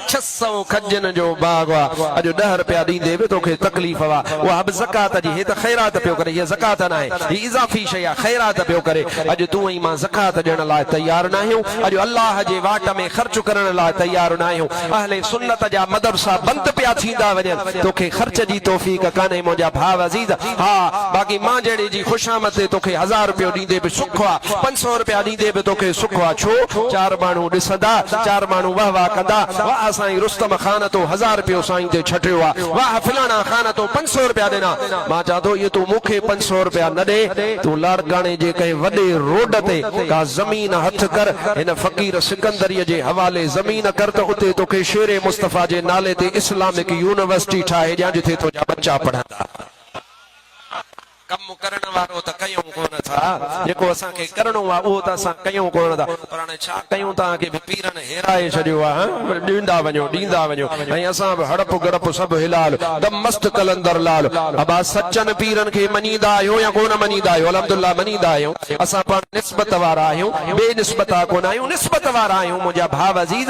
ڇهه سئو کجين جو باغ هئا، اڄ ڏهه رپيا ڏيندي به تو کي تڪليف هئا، اها به زڪوات جي، هي ته خيرات پيو ڪري، هيء زڪوات ناهي، هي اضافي شيء آهي، خيرات پيو ڪري، اڄ تون ۽ مان زڪوات ڏيڻ لاء تيار ناهيون، اڄ الله جي واٽ ۾ خرچ ڪرڻ لاء تيار ناهيون، اهل سنت جا مدرسا بند پيا ٿيندا وڃن، تو کي خرچ جي توفيق ڪانهي منهنجا ڀاء عزيز، ها باقي مان جهڙي جي خوشامد تي تو کي هزار رپيو ڏيندي به سک آ، پنج سؤ رپيا ڏيندي به توکي سک آ، ڇو؟ چار ماڻهو ڏسندا، چار ماڻهو واهه واهه ڪندا، واهه سائين رستم خان تو هزار رپيو سائين تي ڇٽيو آ، واهه فلاڻا خان تو پنج سؤ رپيا ڏنا، مان چان ٿو اهي تون مون کي پنج سؤ رپيا نه ڏي، تون لاڙڪاڻي جي ڪنهن وڏي روڊ تي ڪا زمين هٿ ڪر، هن فقير سڪندريء جي حوالي زمين ڪر ته اتي توکي شير مصطفيٰ جي نالي تي اسلامڪ يونيورسٽي ٺاهي ڏيان جتي تنهنجا ٻچا پڙهندا. ڪم ڪرڻ وارو ته ڪيون ڪونه ٿا، جيڪو اسان کي ڪرڻو آ اهو ته اسان ڪيون ڪونه ٿا، پر هاڻي ڇا ڪيون توهان کي به پيرن هيرائي ڇڏيو آ هان ڏيندا وڃو ڏيندا وڃو ۽ اسان به هڙپ گڙپ سڀ هلال دم مست قلندر لال ابا سچن پيرن کي مڃيندا آهيون يا ڪونه مڃيندا آهيون الحمدالله مڃيندا آهيون اسان پاڻ نسبت وارا آهيون بي نسبتا ڪونه آهيون نسبت وارا آهيون منهنجا ڀاء عزيز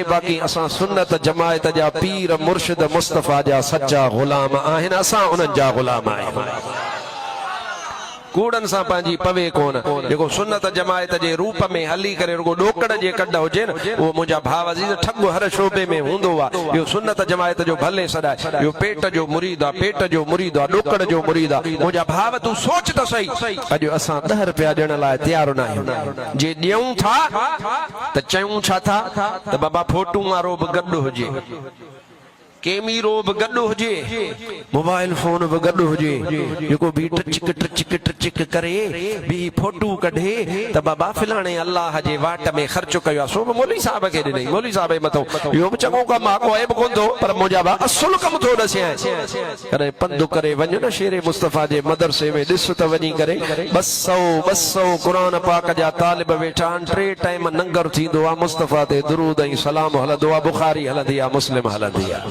آهي باقي اسان سنت جماعت جا پير مرشد مصطفي جا سچا غلام آهن اسان انهن جا غلام آهيون ڪوڙن سان پنهنجي پوي ڪونه جيڪو سنت جماعت جي روپ ۾ هلي ڪري رڳو ڏوڪڙ جي ڪڍ هجي نه اهو منهنجا ڀاء عزيز ٺڳ هر شعبي ۾ هوندو آهي اهو سنت جماعت جو ڀلي سڏ آهي اهو پيٽ جو مريد آهي پيٽ جو مريد آهي ڏوڪڙ جو مريد آهي منهنجا ڀاء تون سوچ ته سهي اڄ اسان ڏهه رپيا ڏيڻ لاء تيار ناهيون جي ڏيون ٿا ته چيون ڇا ٿا ته بابا ڦوٽون وارو به گڏ هجي، ڪيميرو به گڏ هجي، موبائل فون به گڏ هجي، جيڪو بيهي ٽچڪ ٽچڪ ٽچڪ ڪري، بيهي ڦوٽو ڪڍي ته بابا فلاڻي الله جي واٽ ۾ خرچ ڪيو آهي، سو به مولوي صاحب کي ڏنئي، مولوي صاحب جي مٿو اهو به چڱو ڪم آهي ڪو عيب ڪونه ٿو پر منهنجا به اصل ڪم ٿو ڏسين. ڪڏهن پنڌ ڪري وڃ نه شير مصطفيٰ جي مدرسي ۾ ڏس ته وڃي ڪري ٻه سؤ ٻه سؤ قرآن پاڪ جا طالب ويٺا آهن ٽي ٽائيم ننگر ٿيندو آهي مصطفيٰ تي درود ۽ سلام هلندو آهي بخاري هلندي آهي مسلم هلندي آهي.